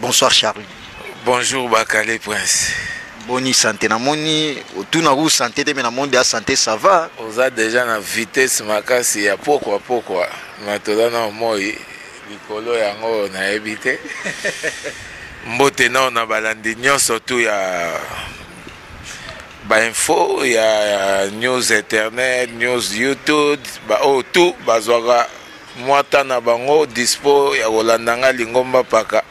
Bonsoir Charlie. Bonjour Bakale Prince. Boni santé na moni otuna ku santé te mais na monde ya santé ça va. Oza déjà na vitesse makasi ya pokwa pokwa mais toza na moi likolo yango nayebi te. Mbote nao na balandi nyonso tu ya bainfo ya news internet news youtube baoyo oh, tu bazwaka Mwata na bango dispo ya kolanda nga lingomba mpaka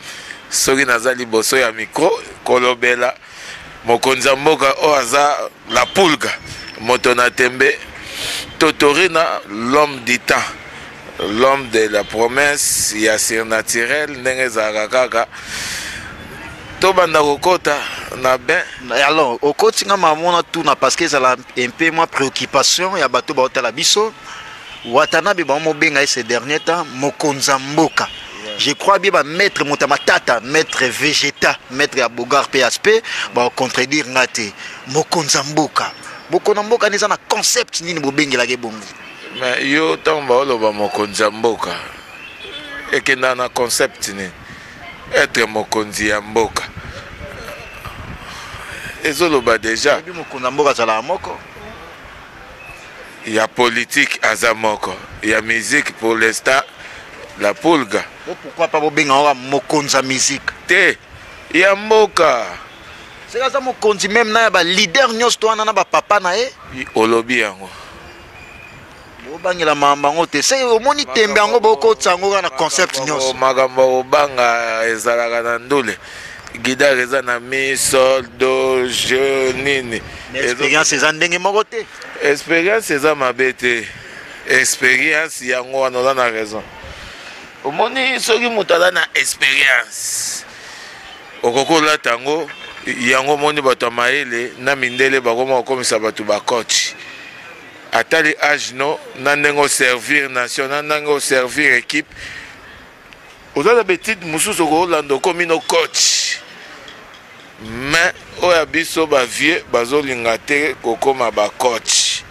soki naza liboso ya micro kolobela mokonzi ya mboka oyo aza la pulga moto na tembe totorina l'homme du temps l'homme de la promesse ya surnaturel ndenge ezalaka kaka tobanda kokota na bain alors okoti nga mamona tuna parce que ezala un peu mwa préoccupation ya bato baotala biso Watanabe bango mobenga ye ces derniers temps mokonzi ya mboka je crois bien ba maître moto ya matata maître vegeta maître ya bogar mpe aspect bakontredire nga te mokonzi ya mboka bokonzi ya mboka nde eza na concept nini bobengelaka ye bongo mais yo ntango baoloba mokonzi ya mboka ekendaka na concept nini etre mokonzi ya mboka ezoloba deja mokonzi ya mboka azalaka moko ya politique aza moko ya musique pour l'instant la pulga Bo pourquoi pas bobenga oka mokonzi ya musique te ya mboka seka aza mokonzi meme na ya baleader nyonso to wana na bapapa na ye I- olobi yango bobangela makambo yango te se omoni tembe yango bokotisa yango kaka na concept Makambo- nyonso makambo ya kobanga ezalaka na ndule guidare eza na mi sol do je nini experience eza ndenge moko te experience eza mabe te experience yango wana oza na raison omoni soki moto aza na experience okoki olata yango yango omoni bato ya mayele na mindele bakoma kokomisa bato bacoach atali age no na ndenge oservir nation na ndenge oservir équipe Oza na b'etudes mususu oko landa okomi no coach mais oyo ya biso ba vieux bazo linga te ko koma ba coach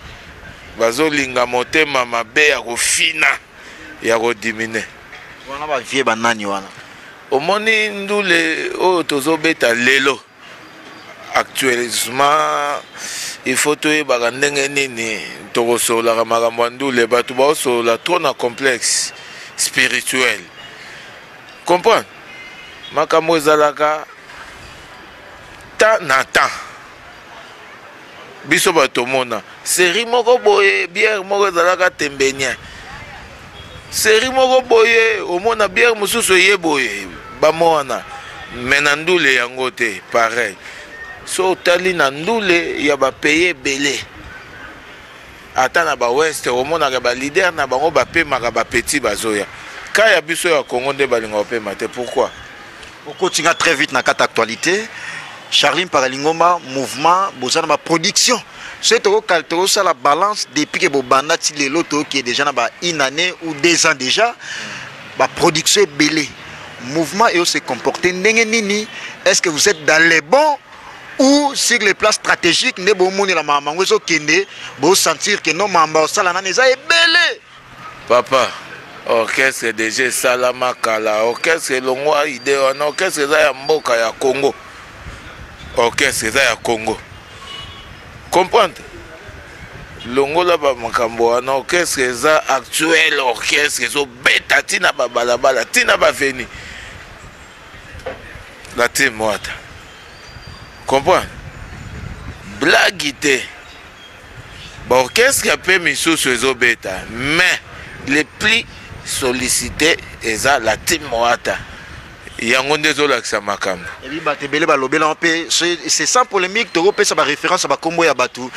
bazo linga motema mabe ya ko fina ya ko diminuer wana ba vieux ba nani wana omoni ndule oyo tozo beta lelo actuellement il faut toyebaka ndenge nini tokosololaka makambo ya ndule bato baosolola trop na complexe spirituel comprendre makambo ezalaka temps na temps Biso batu tomona serie moko boye bière moko ezalaka tembenien serie moko boye omona bière mosusu eye boye bamo wana me na ndule yango te pareil so otali na ndule ya bapaye ebele Ata na ba ouest omonaka ba leader na bango ba pemaka ba petit bazoya. Cas ya biso ya Congo nde balinga opema te pourquoi? Okoti nga très vite na kata actualité. Charline Paralingoma mouvement boza na ba production. Ce toko kal toko sala balance depuis que bobanda ti lelo to qui est déjà na ba une année ou deux ans déjà ba production ebele. Mouvement et se comporter ndenge nini? Est-ce que vous êtes dans les bons ou sur le plan stratégique nde bomonela makambo yango ezokende bosentir ke no makambo osala nani eza ebele papa orchestre deja esalama kala orchestre elongwa ide wana orchestre eza ya mboka ya congo orchestre eza ya congo comprendre longola bamakambo wana orchestre eza actuel orchestre ezobeta ntina babalabala ntina baveni La team Wata. Comprends? Blague te. Ba orchestre ya pe misusu ezobeta mais le plus sollicité eza la team Wata. yango nde ezolakisa makambo ebi bato ebele balobela mpe c'est sans polémique tokopesa baréférence ya bakombo ya bato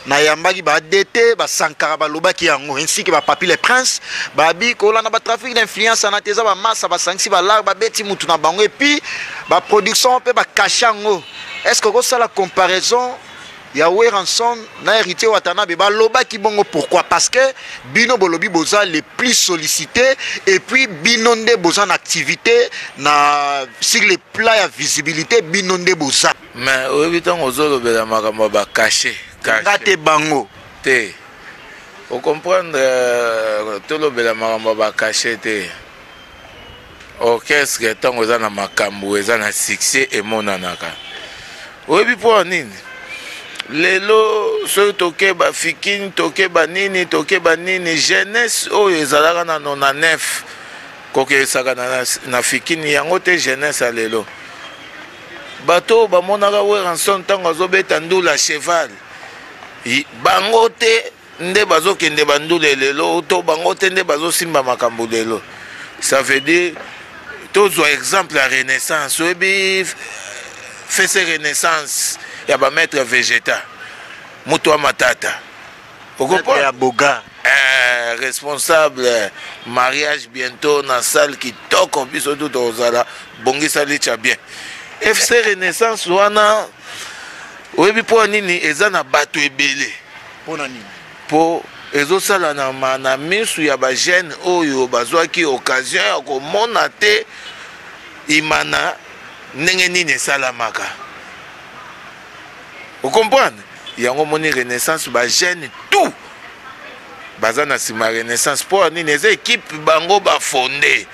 nayambaki ba DT ba Sankara balobaki yango ainsi que ba Papi le Prince babi kolanda ba trafic d'influence na teza ba massa ba sangisi ba lar babeti mutu na bango et puis ba production pe ba cache yango est-ce que okosala comparaison ya Weranson na Héritier Watanabe balobaki bongo pourquoi parce que bino bolobi boza le plus sollicité et puis bino nde boza na activité na sur le plan ya visibilité bino nde boza Mais oyebi tango ozolobela makambo ya ba cachet nga te bango te ocomprendre euh, tolobela makambo ya ba cachet te orchestre ntango eza na makambo eza na succès emonanaka oyebi mpo nini lelo soki tokeba fikini tokeba nini tokeba nini jeunesse oyo ezalaka na 99 kokesaka na, na, na fikini yango te jeunesse ya lelo Bato oyo bamonaka Werrason ntango azobeta ndula cheval, bango te nde bazokende bandule lelo to bango te nde bazosimba makambo lelo. Ça veut dire tozwa exemple ya renaissance oyebi fese renaissance ya bamaître vegeta moto ya matata okopo ya boga eh, responsable mariage bientôt na salle kitoko biso tu tozala bongisa licha bien fc renaissance wana oyebi mpo nini eza na bato ebele mpo na nini mpo ezosala na, ma, na misu ya bagene oyo bazwaki occasion ya komona te imana ndenge nini esalamaka o comprendre yango moni renaissance ba jeune tout baza na nsima renaissance mpo nini eza ekipe bango bafonde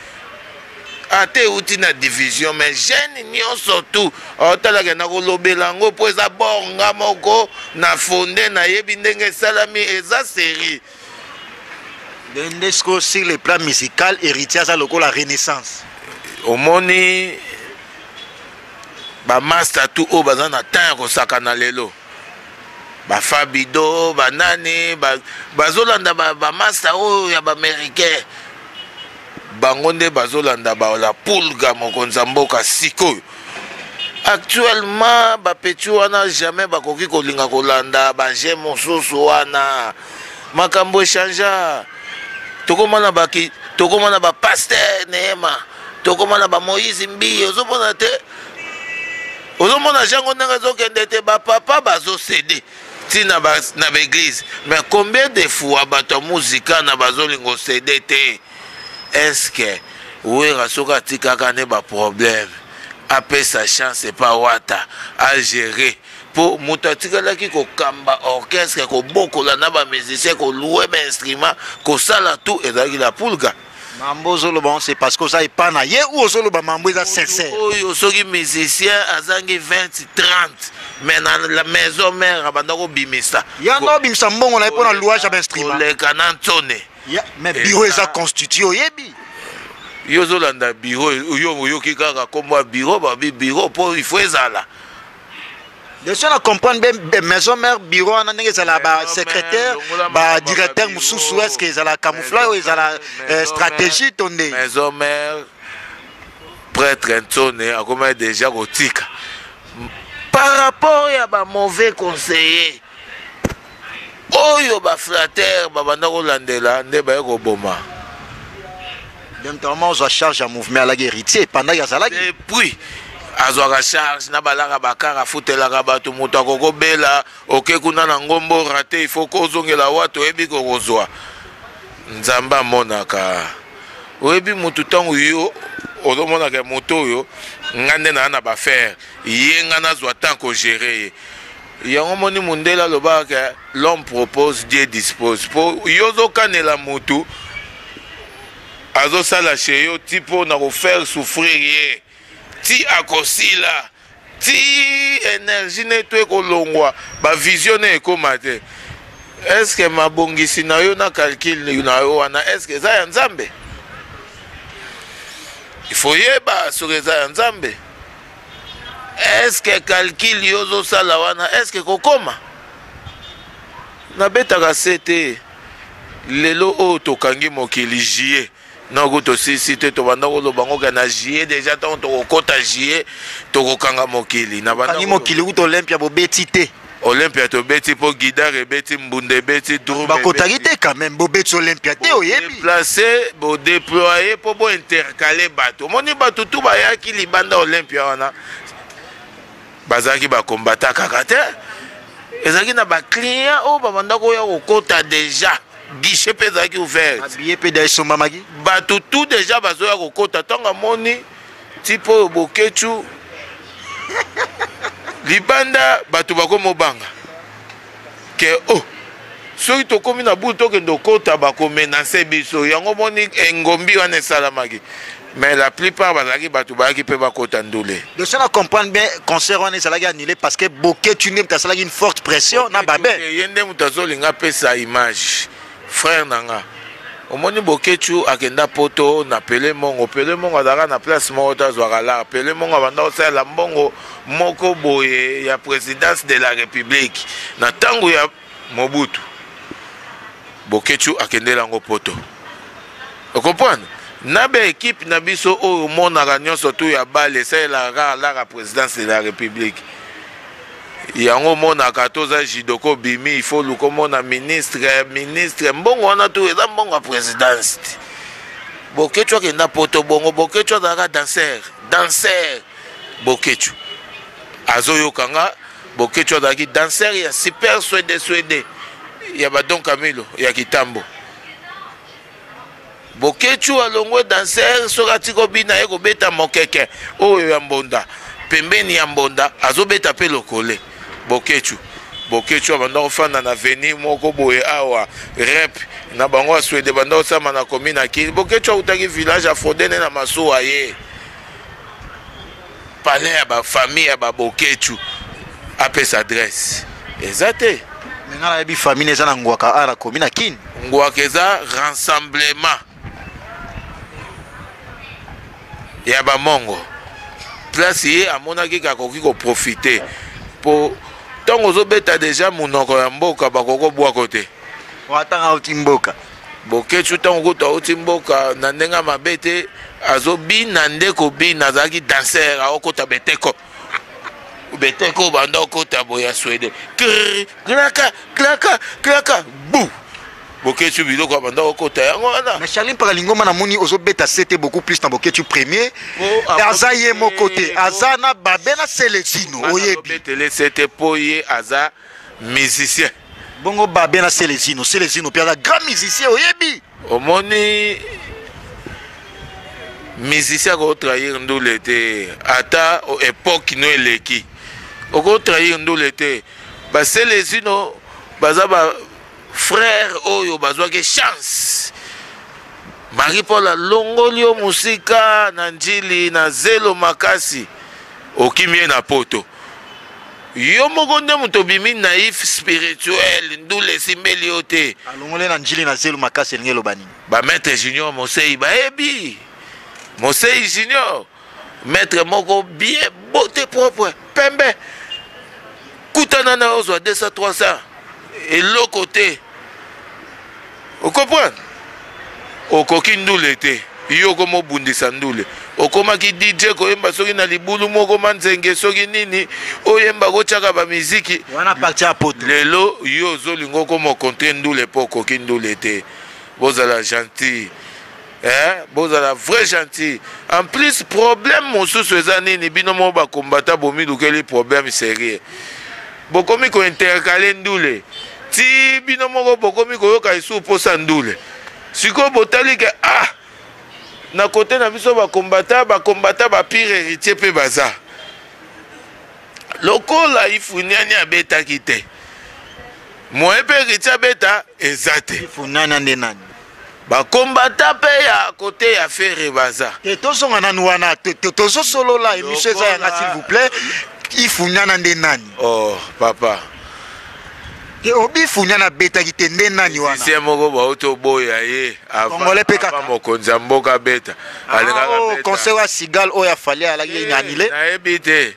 ata euti na division mais jeune nyonso tu otalaka na kolobela yango mpo eza bornga moko na fonde nayebi ndenge esalami eza serie Dende sikoyo sur le plan musical héritier aza lokola renaissance omoni bamasta tu oyo baza na temps ya kosakana lelo bafabido banani bazolanda bamasta oyo ya baaméricain bango nde bazolanda la pulga mokonzi ya mboka sikoyo Actuellement ba petits wana jamais bakoki kolinga kolanda ba jeux mosusu wana makambo echangea tokoma na baki tokoma na ba pasteur neema tokoma na ba moïse mbiye ozomona te ozomona jango ndenge ezokende te bapapa bazosede ti na baeglise mais combien de fois bato ya muzika na bazolinga osede te Est-ce que Werra soki atikaka nde ba problèmes apesa chance epa Wata a gerer po mutu atikalaki ko kamba orchestre ko bokola na ba musiciens ko louer ba instruments ko sala tout ezalaki la Pulga. Mambo ozoloba yango c'est parce que oza epa na ye ou ozoloba mambo eza sincère? Mutu oyo soki musicien azangi 20, 30 mais na la maison mère abanda ko bimisa. Yango abimisa mbongo na ye pona louage ya ba instruments. Koleka na Nsone. Yeah, mais bureau eza constitué oyebi yo ozolanda biro yo oyoki kaka nkombo ya biro babi biro mpo ifo ezala leso na comprendre be maison mare biro wana ndenge ezala basecrétaire badirecteur mosusu est ce que ezala camouflage oyo ezala euh, stratégie to nde maison mare prêtre nsone akomaki déjà kotika par rapport ya bamauvais conseiller oyo ba flatteur babanda kolandela nde baye koboma demtama ozwa charge ya mouvement alaki héritier epandaki azalaki epuis azwaka charge na balaka bakara afutelaka bato moto akokobela oke kuna na ngombo rate ifo kozongela wato oyebi kokozwa nzambe amonaka oyebi motu ntango yo ozomonaka moto oyo ngai nde naa na bafere ye ngai nazwa temps kogere ye Yango omoni mundele alobaka ke l'homme propose Dieu dispose po yo ozokanela mutu azosala chez yo ti po na kofaire souffrir ye ti akosila ti energie ne to ekolongwa bavision ne ekoma te eske mabongisi na yo na calcul na yo wana eske eza ya nzambe ifoyeba soki eza ya nzambe eske calcul yo ozosala wana eske kokoma nabetaka se te lelo oyo tokangi mokili jie noko tosilisi te tobanda koloba ngo ke na jie deja ntango tokokɔta jie tokokanga mokili nabangi mokili kuta olympia bobeti te Olympia tobeti po guidar ebeti mbunda ebeti drum bakotaki te quand même bobeti Olympia te oyebi place bo déployer po bo intercaler bato omoni bato tout bayaki libanda Olympia wana bazalaki ba combattant kaka te ezalaki na ba client oyo babanda koya kokota déjà guichet mpe ezalaki ouvert babillet mpe da esombamaki bato tout déjà bazoya kokota ntango amoni Type oyo boketshu libanda bato bakomobanga ke o oh, soki tokomi na butu tokende okota bakomenase biso yango moni engombi wana esalamaki mais la plupart bazalaki bato bayaki mpe bakota ndule donc soki na comprendre bien concert wana ezalaki annulé parce que boketshu nde moto asalaki une forte pression na babe ye nde moto azolinga apesa image Frère na nga omoni boketshu akenda poto na pele mongo pele mongo azalaka na place moko te azwaka lar pele mongo abanda kosalela mbongo moko boye ya présidence de la république na ntango ya mobutu boketshu akendela yango poto okomprendre na baekipe na biso oyo omonaka nyonso tu ya bale esalelaka kaka lar ya présidence de la république Yango omonaka ata oza judoka obimi il faut oluka omona ministre ministre mbongo wana tu eza mbongo ya presidence ti boketshu akenda poto bongo boketshu azalaka danser danser boketshu azoyoka nga boketshu azalaki danser ya super swede swede ya badon camilo ya kitambo Boketshu alongwe danser soki atiki obina aye kobeta mokeke oyo ya mbonda pembeni ya mbonda azobeta pe lokole boketshu boketshu abanda kofanda na veni moko boye awa rep na bango ya swede banda kosama na komi na kini boketshu autaki village afodene na masuwa ye palais ya ba famille ya ba boketshu apesa adresse eza te me nga nayebi famille eza na ngwaka a nakomi na kin ngwaka eza rassemblement ya bamongo place ye amonaki ke akoki koprofite mpo ntango ozobeta deja monoko ya mboka bakoki kobwako te watanga auti mboka Boketshu ntango kutu auti mboka na ndenge ya mabe te azobina nde kobina azalaki danser aokota beteko beteko obanda okota boye ya swede klaka klaka klaka bu boketshu biloko abanda okota yango wana mais charlin mpaka lingoma namoni ozobeta sete beaucoup plus na boketshu premier aza ye moko te aza na babe na seletino oyebi betele sete mpo ye aza musicien bongo babia na selezino selezino mpe aza grand musicien oyebi omoni musicien akotrahir ndule te ata epoke no eleki okotrahir ndule te baselezino baza ba Frère oyo bazwaki chance Marie Paul alongoli yo mosika na njili na zelo makasi okimi ye na poto yo moko nde moto obimi naïf spirituel ndule esimbeli yo te alongoli na njili na zelo makasi elingi eloba nini bamaître junior mosei bayebi mosei junior Maitre moko bien beauté propre pembe kutana na ozwa 200 300 eloko te okomprendre okoki ndule te yo okoma obundisa ndule okomaki dj koyemba soki na libulu moko manzenge soki nini oyemba kotyaka bamiziki lelo yo ozolinga okoma okontre ndule mpo okoki ndule te bozala gentil Eh, bozala vrai gentil en plus problème mosusu eza nini bino moko bakombata bomilukeli problème sérieux bokomi kointercale ndule ti bino moko bokomi koyoka esu mposa ndule sikoyo botali ke ah na kote na biso bakombata bakombata bapire héritier mpe baza lokola ifuniani abetaki te moye mpe héritier abeta eza te ifunana nde nani Ba combattants pe ya cote ya Ferre baza. Te tozonga nanu wana te tozo solola emission eza yanga s'il vous plait ifunyana nde nani? Oh papa te obifunyana abetaki te nde nani wana sie moko bauti oboya ye congolais pe kaka mokonzi ya mboka abeta ah, alingaka oh, conseil ya sigal oyo afali alaki ye eh, anile nayebi te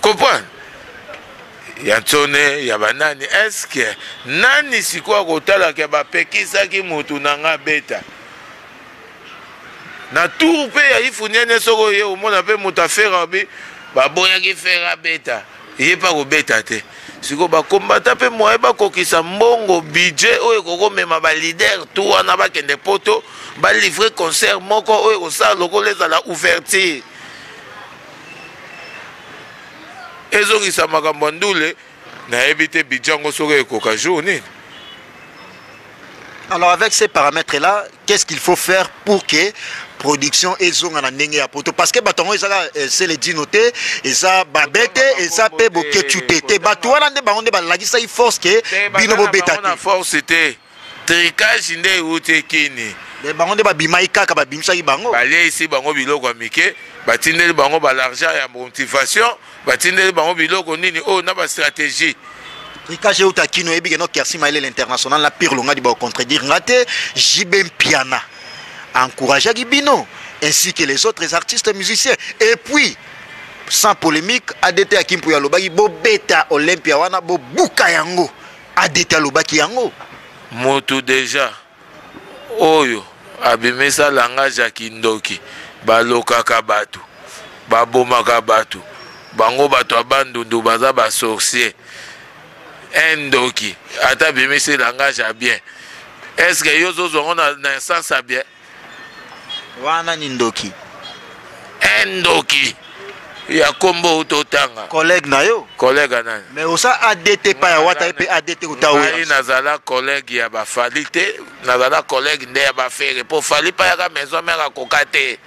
comprendre ya nsone ya banani eske nani sikoyo akotalaka bapekisaki motu na nga beta na tour mpe ya ifuniene soki oye omona mpe moto afera obi baboyaki fera beta ye mpe akobeta te sikoyo bakombata mpe moye bakokisa mbongo budget oyo ekokomema balider tu wana bakende poto balivre concert moko oyo ekosala lokola ezala ouverture ezongisa makambo ya ndule nayebi te bidja yango soki ekoka jour nini alors avec ces paramètres là qu'est ce qu'il faut faire pour que production ezonga na ndenge ya poto parce que bato yango ezaka eh, sele dino te eza babe te eza mpe boketu te te bato wana nde bango nde balakisaki force ke bino bobeta te force te tricage nde ewuti kini mais bango nde babimaki kaka babimisaki bango baleisi bango biloko ya mike batindeli bango balargent ya motivation batindeli bango biloko nini oyo oh, na bastratégie tricage euta kino oyebi keno kersi maele l'international na pire longadi baocontredire nga te jb mpiana encourageaki bino ainsi que les autres artistes musiciens et puis sans polémique adt ya kimpu yalobaki bobeta olympia wana bobuka yango adt alobaki yango mutu deja oyo abimisa langage ya kindoki balokaka bato babomaka bato bango bato ya bandundu baza basorcier un ndoki ata abimisi langage ya bien estce yo ozozwa yango na instance ya bien Wana ni ndoki. Eh ndoki. ya kombo outa otanga collègue na yo collègue nani mais osa adt pa ya wata mpe adt kuta oyo nazala collègue ya bafali te nazala collègue nde ya bafere mpo fali pa yaka maison mère akoka te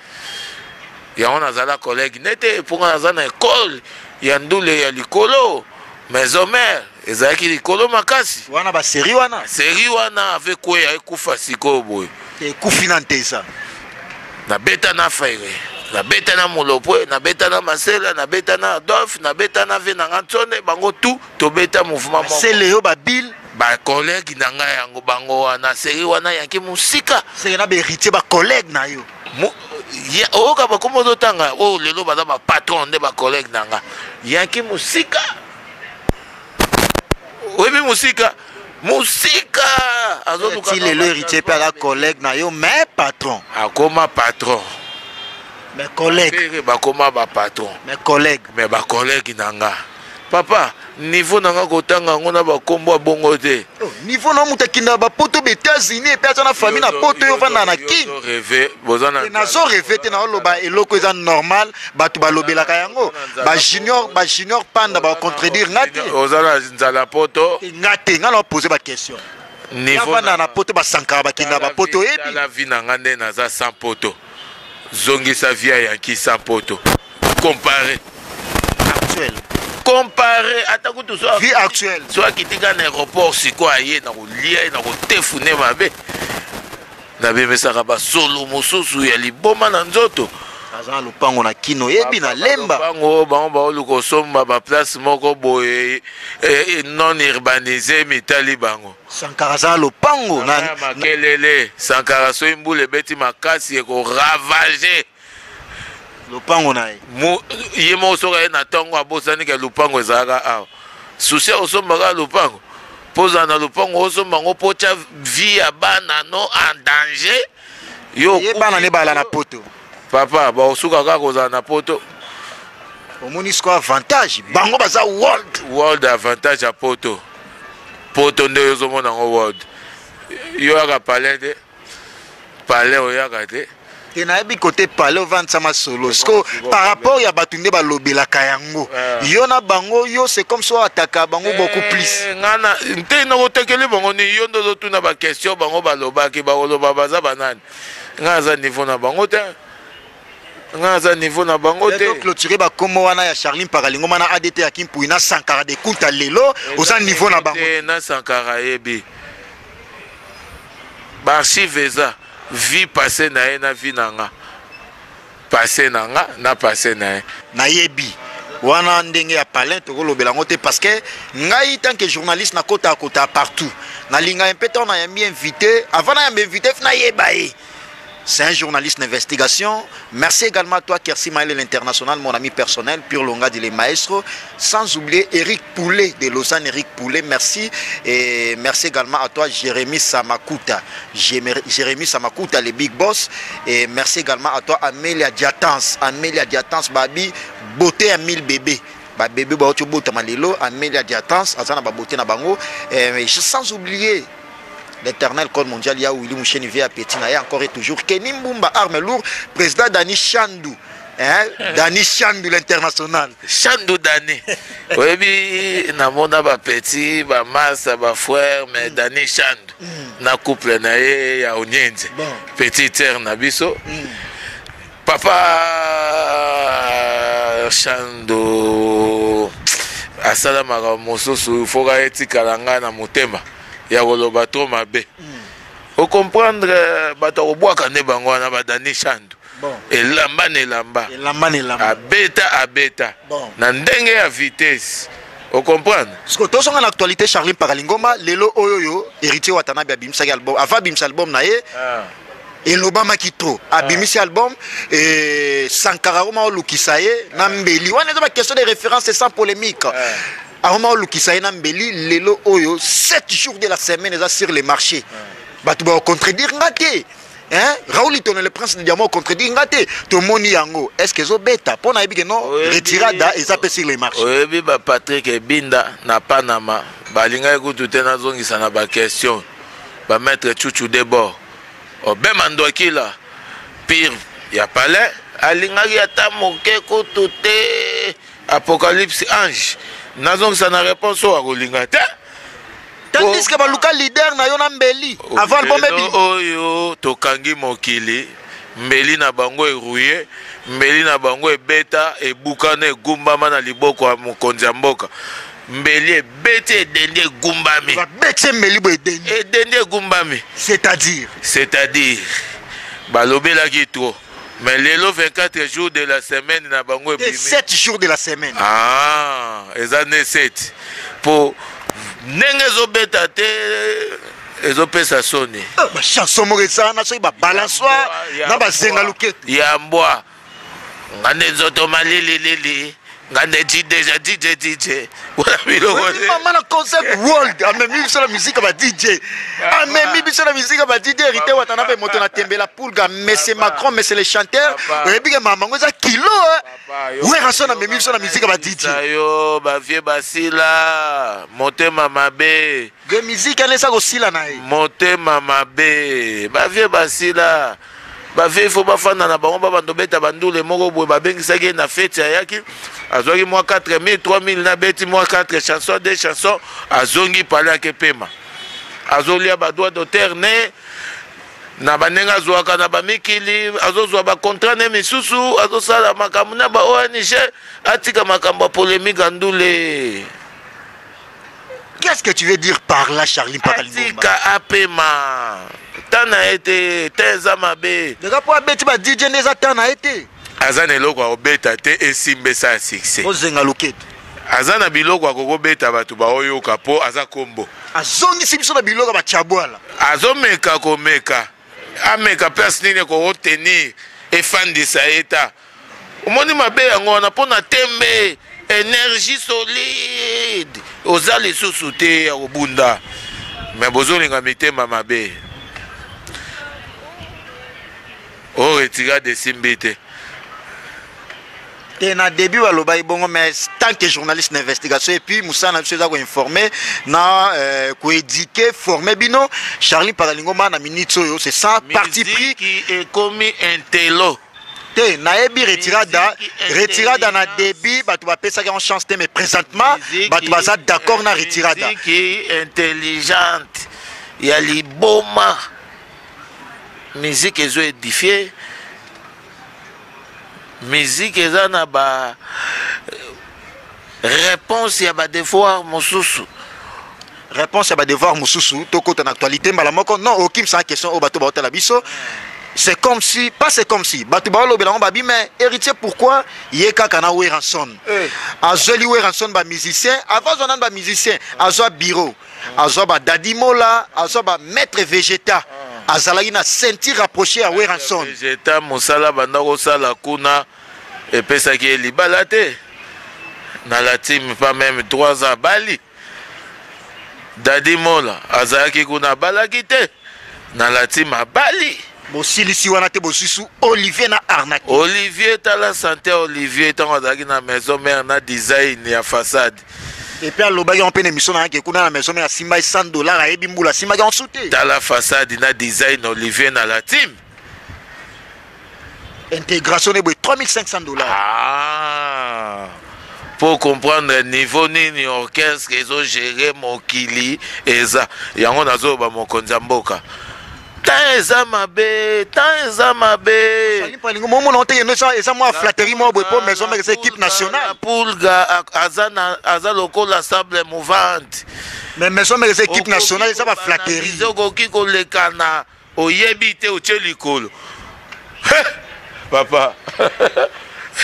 yango nazala collègue nde te mpo nga naza na ekole ya ndule ya likolo Maison mère ezalaki likolo makasi. Wana ba serie wana. Serie wana avec quoi ekufa sikoyo boye. Ekufi na ntesa. Na beta na Ferre. Na beta na Molopwe, na beta na Masela, na beta na Adolphe, na beta na Venanga Ntsone, bango tout to beta mouvement moko. Masela yo ba bill ba collègue na ngai yango bango wana serie wana yaki mosika. Seke na ba heritier ba collègue na yo. oyoka bakomi ozotanga oyo oh, lelo baza bapatron nde bacollègue na nga yanki mosika oyebi mosika mosika azoluka lelo héritier mpe aza collègue na yo mais patron akoma patron mais collègue bakoma bapatron mais collègue mais bacollègue na nga Papa niveau na nga kotanga yango na bakombo ya bongo te oh, niveau na moto akenda bapoto ba états-unis epe aza na famille na poto yo ovanda na kin nazo reve te naoloba eloko eza normal bato balobelaka yango bajunior bajunior panda bacontredire nga te oza na nzala poto nga te nga na opose baquestion avanda na poto basankaka bakenda bapoto oyebi la vie na nga nde naza sans poto zongisa via yanki sans poto comparer actuel comparer ata kutu so vie actuelle so akiti kaka na aéroport sikoyo aye na kolia ye na kotefune mabe nabemesaka basolo mosusu ya liboma na nzoto aza na lopango na kino yebi na lemba lopango bango baoluka osomba baplace moko boye eh, eh, non urbanise mitali bango sankara aza na lopango na makelele sankara soki mbula ebeti makasi ekoravage lopango na ye ye moko soki aye na ntongo abosani ke lopango ezalaka awa susi ya kosomba kaka lopango mpo ozala na lopango osomba yango mpo otya vie ya bana no en danger yo ye bana nde bala na poto papa bakosuka kaka kozala na poto omoni siko avantage bango baza world world avantage ya poto poto nde ozomona yango world yo yaka palin te palais oyaka te te nayebi kote pale ovandisa masolo siko par rapport ya bato nde balobelaka yango ah. yo na bango yo c'est comme so ataka bango eh, beaucoup plus ngana nte nakotakeli bango ni yo nde ozotuna baquestion bango balobaki bakoloba baza banani ngai aza niveau na bango te ngai aza niveau na bango te clôture bakomo wana ya charline pakalingoma na adt ya kimpui na sankara de kunta lelo oza niveau na bango na sankara yebi ba archive eza vie passe na ye na vie na nga passe na nga na passe na ye nayebi wana ndenge ya palin tokolobela yango te parce que ngai tant que journaliste nakota kota partout nalingaka mpe ntango nayambi invité avant nayamba invité fna yeba ye C'est un journaliste d'investigation. Merci également à toi, Kersi Maël, l'international, mon ami personnel, Pure Longa de les maestros. Sans oublier Eric Poulet de Lausanne, Eric Poulet, merci. Et merci également à toi, Jérémy Samakuta. Jérémy Samakuta, les big boss. Et merci également à toi, Amelia Diatans. Amelia Diatans, Babi, beauté à 1000 bébés. babebe bauti obotama lelo amelia diatance aza na babote na bango eh, sans oublier l'éternel code mondial ya Willy Moucheni vie à petit na ya encore et toujours Kenny Mbumba arme lourd président Dani Chandu hein eh. Dani Chandu l'international Chandu Dani oyebi namona ba petit ba massa ba frère mais mm. Dani Chandu mm. na couple na ye ya Onyenze bon. petit terre na biso mm. Papa Shando asala makambo mosusu foka etikala ngai na motema ya koloba to mabe hmm. ocomprendre euh, bato akobwaka nde bango wana badani Shando elamba na elamba abeta abeta na ndenge ya vitesse ocomprendre siko tozonga na actualité charline pakalingoma lelo oyo oyo héritier watanabe abimisaki album ava abimisa album na ye ah. elobamaki trop ah. abimisi album et sankara akoma olukisa ye na ah. mbeli wana eza baquestion de référence et sans polémique ah. akoma olukisa ye na mbeli lelo oyo 7 jours de la semaine eza sur le marché bato bakocontredire nga te hein Raoul Itono le prince de diamant contredit nga te tomoni yango est-ce que ezobeta mpo nayebi ke non retirada eza mpe sur le marché oyebi ba Patrick Ebinda na Panama balingaki kutu te nazongisa na ba question Ba maitre tshutchu de bord obema nduakila pire ya palais alingaki ata moke kutu te apocalypse ange nazongisa na reponse oyo akolinga te tandiske baluka leader na yo na mbeli avant album ebi oyo tokangi mokili mbeli na bango erouye mbeli na bango ebeta ebukana egumbama na liboko ya mokonzi ya mboka mbeli ebeti edendi egumbami babeti ye mbeli boye edendi edendi egumbami c'est-à-dire c'est-à-dire balobelaki trop mais lelo 24 jours de la semaine na bango ebimi 7 jours de la semaine ah eza nde 7 mpo ndenge ezobeta te ezopesa soni ah, bachanson moko ezana soki babalansoir na bazenga loketo ya mbwa Nga nde nzoto malili lili. Nga nde jideja DJ DJ. Wala biloko te. Mama na concept world amemi biso na musique ba DJ. Amemi biso na musique ba DJ hérité Watanabe moto na tembe la pulga monsieur Macron monsieur le chanteur. Oyebi ke mama ngo eza kilo hein. Werrason amemi biso na musique ba DJ. Yo ba vieux basila motema mabe. Vieux musique wana eza kosila na ye. Motema mabe. Ba vieux basila. Ba vieux il faut bafanda na bango ba bando beta bandule moko boye babengisaki ye na feti ayaki azwaki mwa 4000 3000 na beti mwa 4 chanson 2 chanson azongi pale ake pema azolia badroit d'auteur ne na bandenge azwaka na bamikili azozwa bacontrat ne misusu azosala makambo na ba ong atika makambo ya polemike ya ndule Qu'est-ce que tu veux dire par là, Charlie Mpaka Lingomba Atika apema. Temps na ye te, temps eza mabe. Deja mpo abeti ba DJ nde eza temps na ye te. Aza na eloko ya kobeta te esimba esa ya succès. Ozenga loketo. Aza na biloko ya kokobeta bato baoyoka mpo aza kombo. Azongisi biso na biloko ya bachabwala. Azomeka komeka. Ameka place nini ekokotenir efandisa ye ta. Omoni mabe yango wana mpo na tembe energie solide oza lisusu te ya kobunda me bozolinga mitema mabe o retirade esimbi te te na début balobaki bongo mais tant que journaliste na investigation epuis mosala na biso eza koinforme na euh, koédike forme bino charlie pakalingoma na minute oyo c'est ça parti pris ekomi intelo te nayebi retirada retirada na début bato bapesaki yango chance te mais présentement bato baza d'accord na retirada intelligente ya liboma musique ezo édifie musique eza na ba Reponse ya ba devoir mosusu. Reponse ya ba devoir mosusu tokota na actualité mbala moko non okimisa question oyo bato baotala biso c'est comme si pas c'est comme si bato baolobela yango babi mais héritier pourquoi ye kaka na weranson eh. azweli weranson bamusicien avant azwa nani bamusicien azwa bureau azwa badadimola azwa bamaître végéta ah. azalaki na ceinture rapproché ya weranson mosala banda kosala kuna epesaki ye libala te na la team pas meme 3 ans abali dadi mola azalaki kuna abalaki te na la team abali bosilisi wana te bosusu olivier na arnaque olivier tala sante olivier ntango azalaki na maison mare na design ya façade epuis alobaki yango mpe na émission nayaki kuna na maison mare asimbaki 100 dollar ayebi mbula asimbaki yango su te tala façade na design olivier na la team Intégration n'est 3500 dollars. Ah. Pour comprendre niveau nini orchestre ils ont géré mokili eza yango nazo ba mokonzi ya mboka temps eza mabe temps eza mabeomona te eza mwa flatterie mwa boye mpo maison mare eza équipe nationale pulga aza lokola sable mouvante mais maison mare eza équipe nationale eza baflatterie okoki kolekana Oyebi te otie likolo. He! Papa.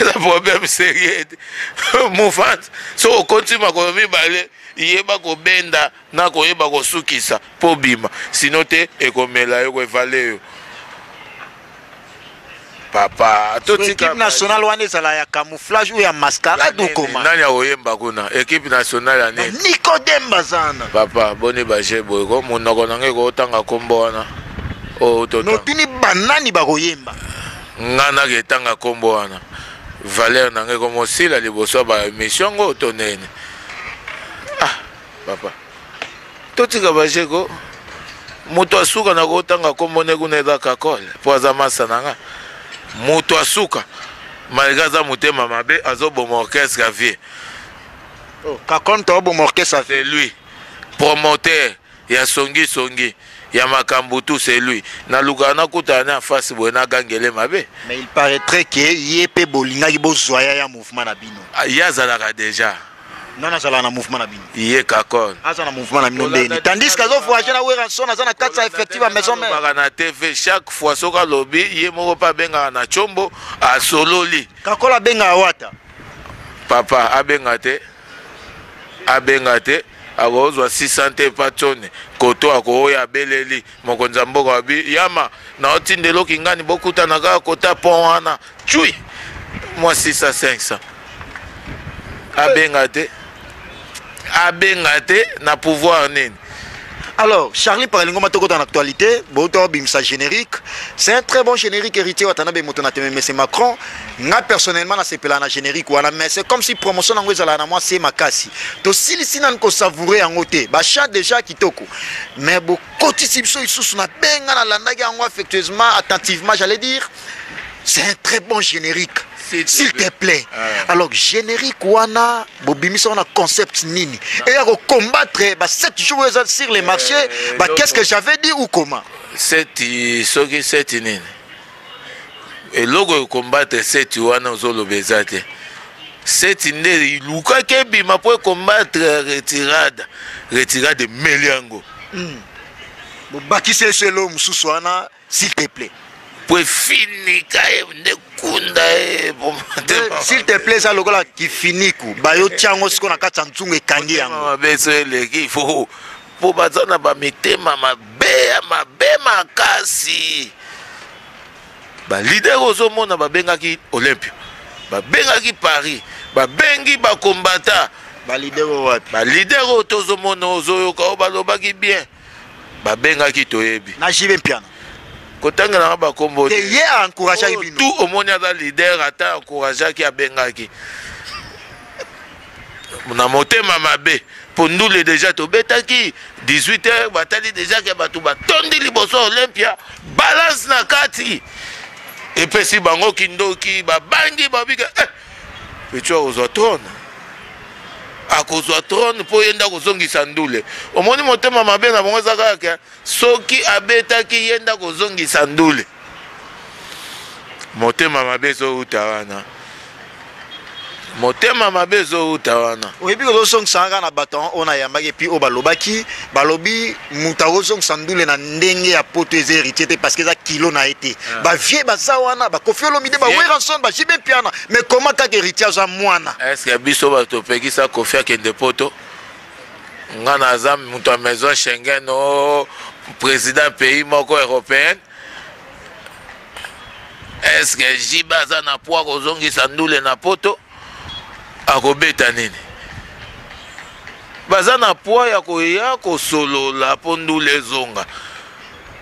eza problème sérieux te mouvance soki okoti makolo mibale yeba kobenda na koyeba kosukisa mpo obima sino te ekomela yo koevale yo papa totika national wana ezala ya camouflage ou ya mascarade ou comment nani akoyemba kuna equipe nationale ya nini nicodem bazana papa boni baje boye ko monoko na ngai kootanga nkombo wana oh, notuni banani bakoyemba ngai nake etanga nkombo wana valeur na ngai komosila liboso ya baémission yango to nene ah papa totika bajeko moto asuka na kotanga nkombo ne kuna eza kakole mpo aza masa na nga moto asuka malgré aza motema mabe azoboma orchestre ya vie oh, kakole moto aboma orchestre c'est lui promoteur ya songi songi ya makambo tout c'est lui nalukaka nakutana ne afasi boye nagangele mabe mais il paraîtrait ke ye mpe bolingaki bozwa ya ya mouvement na bino ah, ye azalaka déjà nani azalaka na mouvement na bino ye kakon aza na mouvement na bino ndeni tandis que azo voyage na weranson aza na kati ya effective ya maison mère baka na tv chaque fois soki alobi ye moko mpe abengaka na combo asololi kakola abengaka wata papa abenga te abenga te akozwa 600 te epa tsone koto akooya abeleli mokonzi ya mboka wabi yama naotindela okingani bokutana kaka kota pont wana Chui mwa 600 500 abenga te abenga te na pouvoir nini Alors, Charlie Paralingo Matoko dans l'actualité, Boto Bimsa générique, c'est un très bon générique héritier Watanabe Motonate, mais c'est Macron. Nga personnellement, na sepela na générique wana, mais c'est comme si promotion nango ezala na moi c'est makasi. To sili sinan ko savourer en te, ba chat déjà kitoko. Mais bo kotisi biso isusu na benga na landaki yango affectueusement, attentivement, j'allais dire. c'est un très bon générique s'il te plaît ah. alors générique wana bobimisa wana concept nini et ya kocombattre ba 7 jours eza sur les eh, marchés eh, ba qu'est-ce que j'avais dit ou comment seti soki seti nini eloko ekombatre seti wana ozoloba eza te seti nde ilukaki ebima mpo ekombatre retirade retirade emeli yango hmm. bobakisi eselo mosusu wana s'il te plaît po efinika ye nde kunda ye s'il te plaît eza lokola kifiniku bayotya yango siko na kati ya nzungu ekangi yango mabe so eleki ifo mpo baza na bamitema mabe ya mabe makasi balidere ozomona babengaki olympio babengaki paris babengi bakombata balidere wapi balidere oyo tozomona ozoyoka oyo balobaki bien babengaki toyebi na jibe mpiana kotanga nanga bakombo te ye encourageaki oh, bino tout omoni aza leader ata encourageaki abengaki na motema mabe mpo ndule deja tobetaki 18 heures batali deja ke bato batondi liboso olympia balance na kati epesi bango kindoki babangi babika eh, Petsho akozwa trone akozwa trone mpo ye nde akozongisa ndule omoni motema mabe na bango eza kaka ke soki abetaki ye nde akozongisa ndule motema mabe ezowuta wana motema mabe ezowuta wana oyebi kozosongisanga kaka na bato yango oyo nayambaki epuis oyo balobaki balobi moto akozongisa ndule na ndenge ya poto eza héritier te parce que eza kilo na ye te ah. bavie baza wana bakofi olomide baweranson bajibe mpiana mais koma kaka héritier aza mwana estce biso bato topekisa kofi akende poto nga naza moto ya maison schengen o oh, président pays moko européenne estce jibe aza na poi kozongisa ndule na poto akobeta nini baza na pwa ya koya kosolola mpo ndula ezonga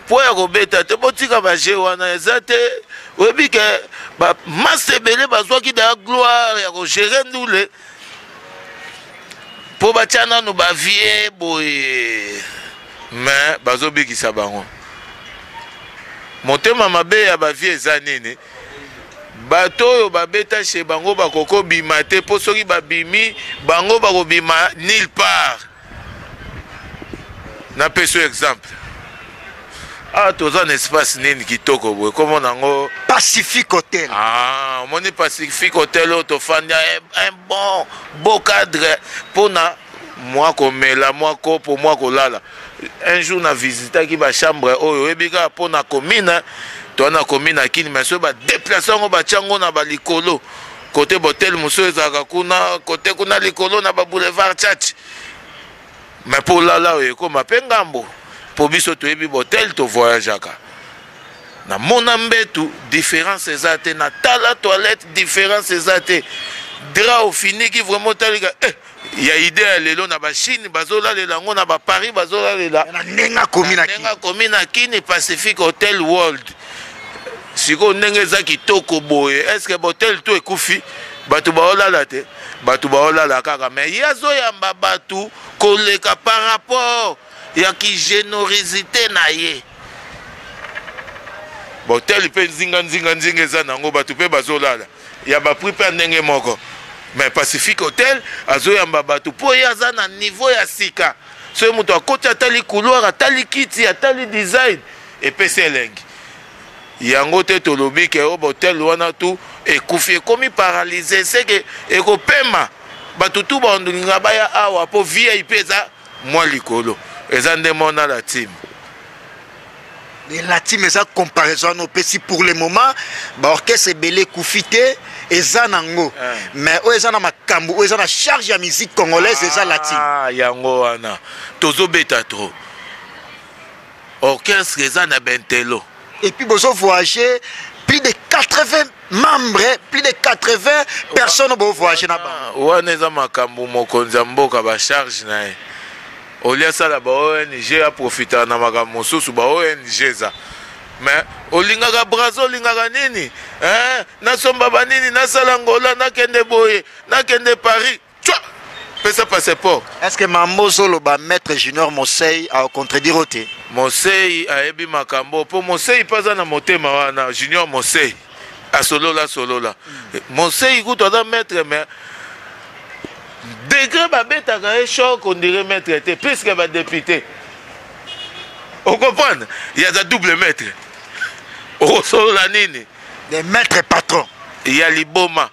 mpo ya kobeta te botika baje wana eza te oyebi ke bamase ebele bazwaki daya gloire ya kogere ndule mpo batya nano bavie boye me bazobikisa bango motema mabe ya bavie eza nini Bato oyo babeta chez bango bakoki kobima te po soki babimi bango bakobima nil part. Napesi yo exemple. awa ah, toza na espace nini kitoko boye komo nango pacifique hotel ah, omoni pacifique hotel oyo tofandi un bon beau cadre mpona mwa komela mwa kopo mwa kolala un jour na visitaki bachambre oyo oyebi kaka mpo na komina toa na komina ya kini mai soki badeplace yango batya yango na balikolo kote botel mosusu ezalaka kuna kote kuna likolo na baboulevard chach mai mpo olala oyo ekoma mpe ngambo mpo biso toyebi botel tovoyageaka namona mbetu différence eza te natala toilette différence eza te dra ofiniki vraiment otalika eh, ya idee ya lelo na bachine bazolalela yango na baparis bazolalela ndenge akomi na kini pacific hotel world sikoyo ndenge eza kitoko boye estce botel to ekufi bato baolala te bato baolala kaka me ye azoyamba bato koleka par rapport ya kigenorisite na ye botel mpe nzinga nzinga nzinga eza na yango bato mpe bazolala ya ba prix pe ya ndenge moko mais pacifique hotel azoyamba bato mpo ye aza na niveau ya sika soki moto akoti atali couloir atali kiti atali design epesi elengi yango te tolobi ke o botel wana tu ekufi ekomi paralyse seke ekopema bato tu balinga baya awa mpo vip eza Mwa likolo eza nde mwa na la team. Mais la team eza comparaison no pesi pour le moment ba orchestre ebele kufi te eza nango ah. mais oyo eza na makambo oyo eza na charge ya musique congolaise eza la team. Ah yango wana tozo beta trop. Orchestre eza na bentelo. et puis bozo voyager plus de 80 membres plus de 80 personnes bo voyager na bango wana eza makambo mokonzi ya mboka ba charge na ye olie asala ba ong aprofitaka na makambo mosusu ba ong eza mais olingaka brazo olingaka nini eh, nasomba banini nasala ngola nakende boye nakende paris Tchwa! Pesa passeport. Est-ce que mambo ozoloba maître Junior Mosei a contredire yo te? Mosei ayebi makambo po Mosei pe aza na motema wana Junior Mosei asolola solola. Mosei kutu aza maître mais degre babetaka ye choc ondire maître te puisque badepute okomprendre yaza double maître okosolola nini de maître patron ya liboma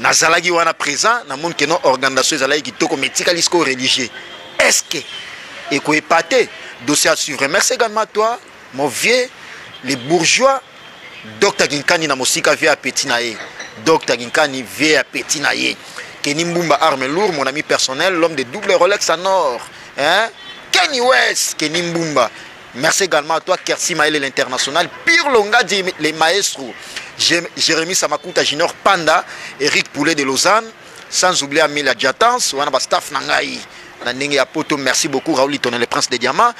nazalaki wana présent na moni keno organisation ezalaki kitoko mais etikali sikoyo religieux est ce que ekoepate dossier à suivre merci également à toi mon vieux les bourgeois dr kinkani na mosika vie ya petit na ye dr kinkani vie ya petit na ye keni mbumba arme lourd mon ami personnel l'homme de double rolex en or hein? kenny west keni mbumba Merci également à toi Kersi Maele l'international, Pire Longadji les maestros, Jérémy Samakuta Junior Panda, Eric Poulet de Lausanne, sans oublier Amila Djatans, wana ba staff na ngai na ndenge ya poto merci beaucoup Raoul Tonel le prince des diamants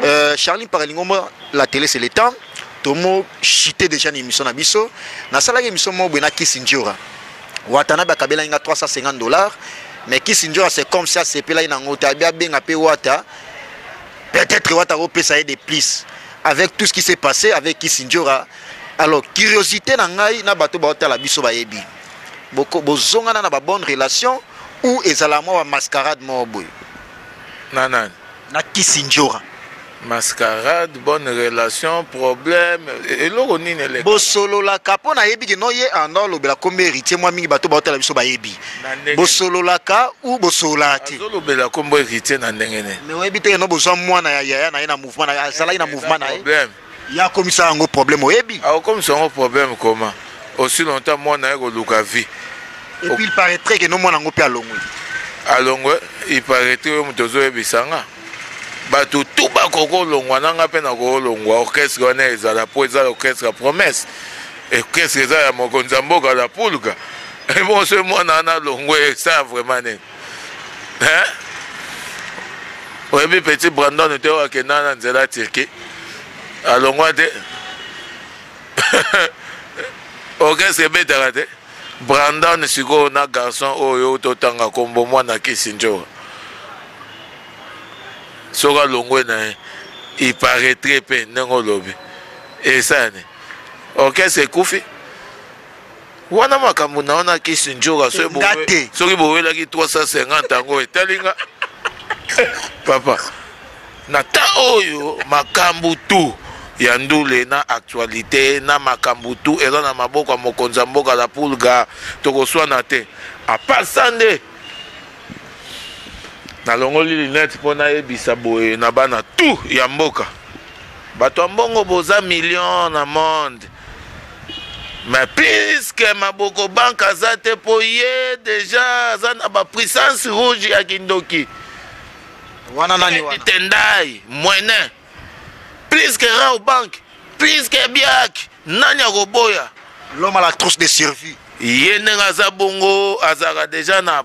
euh, Charlie Paralingombo la télé c'est le temps tomo chite déjà na émission na biso nasalaki émission moko boye na Kisindjora Watanabe akabelaki nga 350 dollars mais Kisindjora c'est comme ça asepelaki nango te abi abenga mpe Wata Peut être wata ko pesa ye de plus avec tout ce qui s'est passé avec Kisindjora. Alors curiosité na ngai na bato ba otala biso ba yebi. Boko bozongana na ba bonne relation ou ezala mwa ba mascarade moko boye. Na nani? Na Kisindjora. mascarade bonne relation problème eloko nini eleka bosololaka mpo nayebi ke no ye anda olobela kombe héritier mwa mingi bato baotala biso bayebi bosololaka ou bosololaka te azolobela kombo héritier na ndenge ne mais oyebi te yeno bozwa mwana ya yaya na ye na mouvement na ye azalaki na mouvement na ye problème ye akomisa yango problème oyebi akokomisa yango problème koma aussi longtemps mwana ye koluka vie et puis il paraîtrait que no mwana yango mpe alongwe alongwe il paraîtrait oyo moto ozoyebisa nga bato tu bakokolongwa na nga mpe nakolongwa orchestre wana ezala mpo eza orchestre ya promesse Orchestre eza ya mokonzi ya mboka la pulga ebongo soki mwana wana alongwe esala vraiment nini hein oyebi petit brandon te oyo akenda na nzela ya turquie alongwa te orchestre ebetaka te brandon sikoyo na garçon oyo totanga nkombo mwana kisi njoa soki alongwe na ye iparetre mpe ndenge olobi esani orchestre ekufi wana makambo na wana kisi njoka soki bowelaki 350 yango etali nga papa na ta oyo makambo tu ya ndule na actualité na makambo tu eza na maboko ya mokonzi ya mboka la pulga tokoswana te apasa nde nalongoli linete mpo nayebisa boye na bana tu ya mboka Bato ya mbongo boza million na monde mais puisque maboko banque aza te po ye deja aza na ba puissance rouge ya kindoki wana nani wana tendai mwene puisque rao banque puisque biaki nani akoboya l'homme à la trousse de survie ye ndenge aza bongo azalaka deja na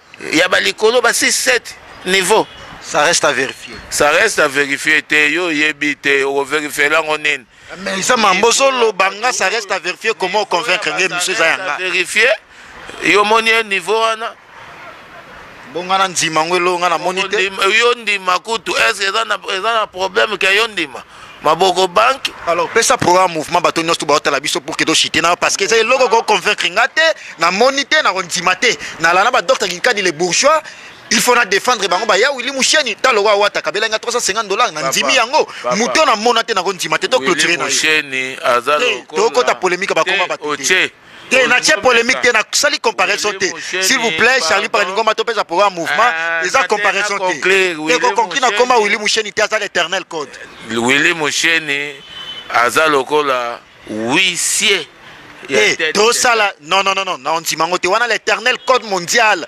ya ba likolo ba 6 7 niveau ça reste à vérifier ça reste à vérifier te yo oyebi te okoverifie lango nini mais eza mambo ozoloba nga ça reste à vérifier comment oconvaincre nge misu eza yanga vérifier yo omoni ye niveau wana bonga na ndima yango elonga namoni te yo ndima kutu est ce eza na problème ke yo ndima maboko banque alors pesa programme mouvement bato nyonso to baotala biso pour que toshite na parce que eza eloko koconvaincre nga te namoni te nakondima te nalana badokta kinkadi le bourgeois il faut na défendre bango baya wili musheni ta lokola wata kabela nga 350 dollars na ndimi yango moto na mona te nakondima te to clôturer na ye tokota polémique bakoma bato te te natie polemique te nasali comparaison te s'il vous plaît charlie paraningoma topesa poko ya mouvement ah, eza comparaison te te kokonkli nakoma willi musheni te aza l'éternel code willi musheni aza lokola wisie eh, tosala non non non non na ondima yango te wana l'éternel code mondial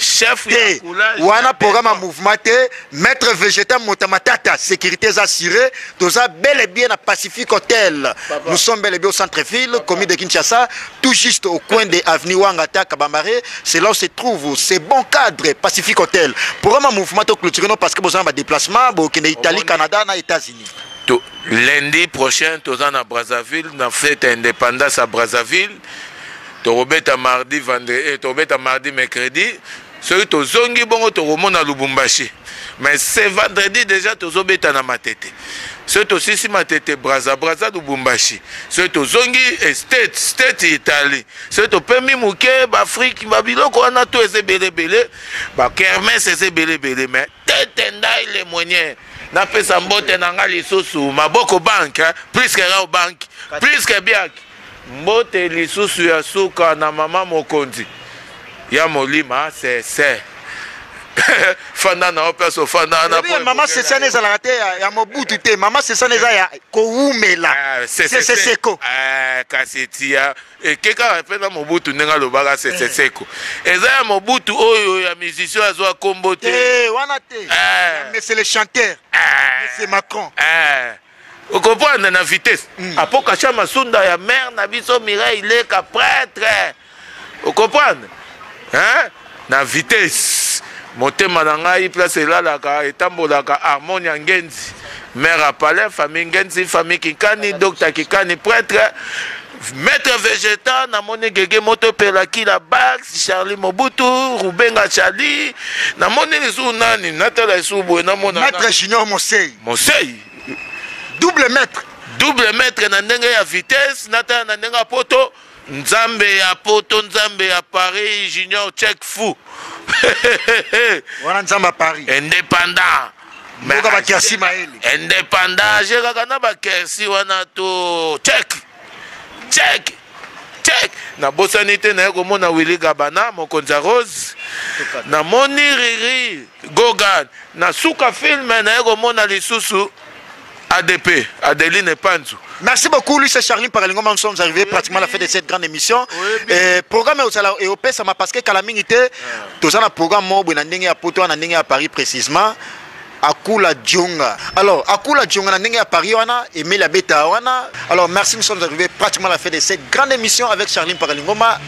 chef te wana programme ya mouvement te maître végétal mota matata sécurité eza assuré toza bel et bien na pacifique hôtel nous sommes bel et bien au centre ville commune de kinshasa tout juste au coin de avenue wangata kabambare c'est là où se trouve ce bon cadre pacifique hôtel programme ya mouvement to clôture no parce que boza na badéplacement bokende italie canada na états-unis to, lundi prochain toza na brazzaville na fete ya indépendance ya brazzaville Tokobeta mardi vendredi eh, tokobeta mardi mercredi soki tozongi bongo tokomona lubumbashi mais ce vendredi déjà tozobeta na matete soki tosisi matete braza braza lubumbashi soki tozongi eh, state state italie soki topemi moke baafrike babiloko wana to eza ebele ebele bakermes eza ebele ebele mais Tete ndai le mwenye napesa mbote na nga lisusu maboko bank plus que rao bank plus que biak mbote lisusu ya suka na mama mokonzi ya molima sese fanda na yo place ofanda wana eh mama sesana ezalaka te ya mobutu te mama sesana eza ya kowumela ah, seseseko eh, kasi tia Eke kaka pe na mobutu ndenge alobaka sese seko eza ya mobutu oyo ya musicien azwa kombo te eh, wana te eh. monsieur le chanteur eh. monsieur macron okoprendre na vitesse hmm. apokasha masunda ya mare na biso mireille leka prêtre okoprendre hein Na vitesse motema na ngai place elalaka etambolaka harmonia ngenzi mère à palais famille ngenzi famille kinkani docteur kikani prêtre maître vegeta namoni gege moto epela kila bax charlie mobutu rubenga charlie namoni lisusu nani natala lisusu boye namona maître junior mosei mosei double maître double maître na ndenge ya vitesse natala na ndenge ya poto Nzambe ya poto nzambe ya paris junior check fou wana nzambe ya paris indépendant mboka bakersi mayele indépendant je kaka na bakersi wana to check check check nabosani te naye komona willi gabana mokonzi ya rose namoni riri gogan na suka filme naye komona lisusu ADP, Adeline Panzu. Merci beaucoup, Luis et Charline Paralingoma. Nous sommes arrivés pratiquement à la fin de cette grande émission. Et programme est au Pessama parce que Kalamingite, tous un programme, moi, on a à Poto, on a à Paris précisément. akula djonga alors akula djonga na ndenge ya paris wana emeli abeta wana alors merci nous sommes arrivés pratiquement à la fin de cette grande émission avec charline pakalingoma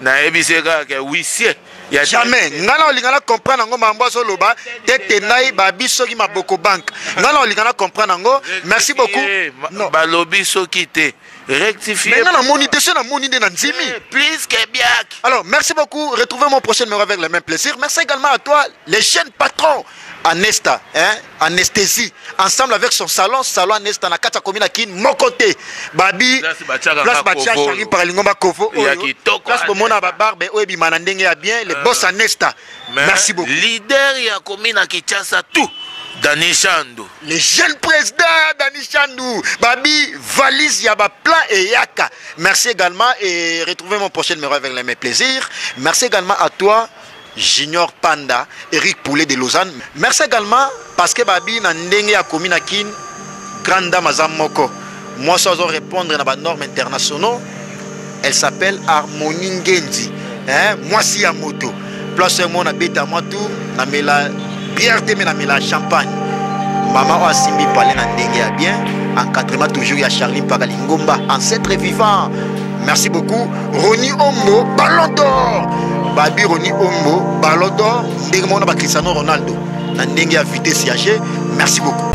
nayebisi ye kaka ke huissier ya jamais ngai na olinga na comprendre yango mambo azoloba tete nai babi soki maboko banke ngai na olinga na comprendre yango merci beaucoup non. balobi soki te rectifier ngai namoni te soki namoni nde na ndimi eh, plus que biak alors merci beaucoup retrouvez mon prochain numéro avec le même plaisir merci également à toi les jeunes patrons Anesta, hein, anesthésie, ensemble avec son salon, salon Anesta na kati ya commune Kin, moko te. Babi, place batia Charline Paralingomba Kovo, place bomona ba barbe oyo ebima na ndenge ya bien, le euh, boss Anesta. Merci beaucoup. Leader ya commune ya Kinshasa tout. Dani Chandou. Le jeune président Dani Chandou. Babi, valise yaba plein et yaka. Merci également et retrouvez mon prochain numéro avec les mêmes plaisirs. Merci également à toi. Junior Panda, Eric Poulet de Lausanne. Merci également parce que babi na ndenge ya komi na Kin, grande dame aza moko. Moi ça doit répondre na ba normes internationaux. Elle s'appelle Harmonie Ngenzi. Hein, moi si ya moto. Place moi na beta moi tout, na mela bière te me na mela champagne mama oyo asimbi pale na ndenge ya bien encadrement toujours ya charlie mpaka lingomba ancetre vivant merci beaucoup roni ombo ballon d'or babi roni ombo ballon d'or ndenge moko na bacristiano ronaldo na ndenge ya vitesse ya jeu merci beaucoup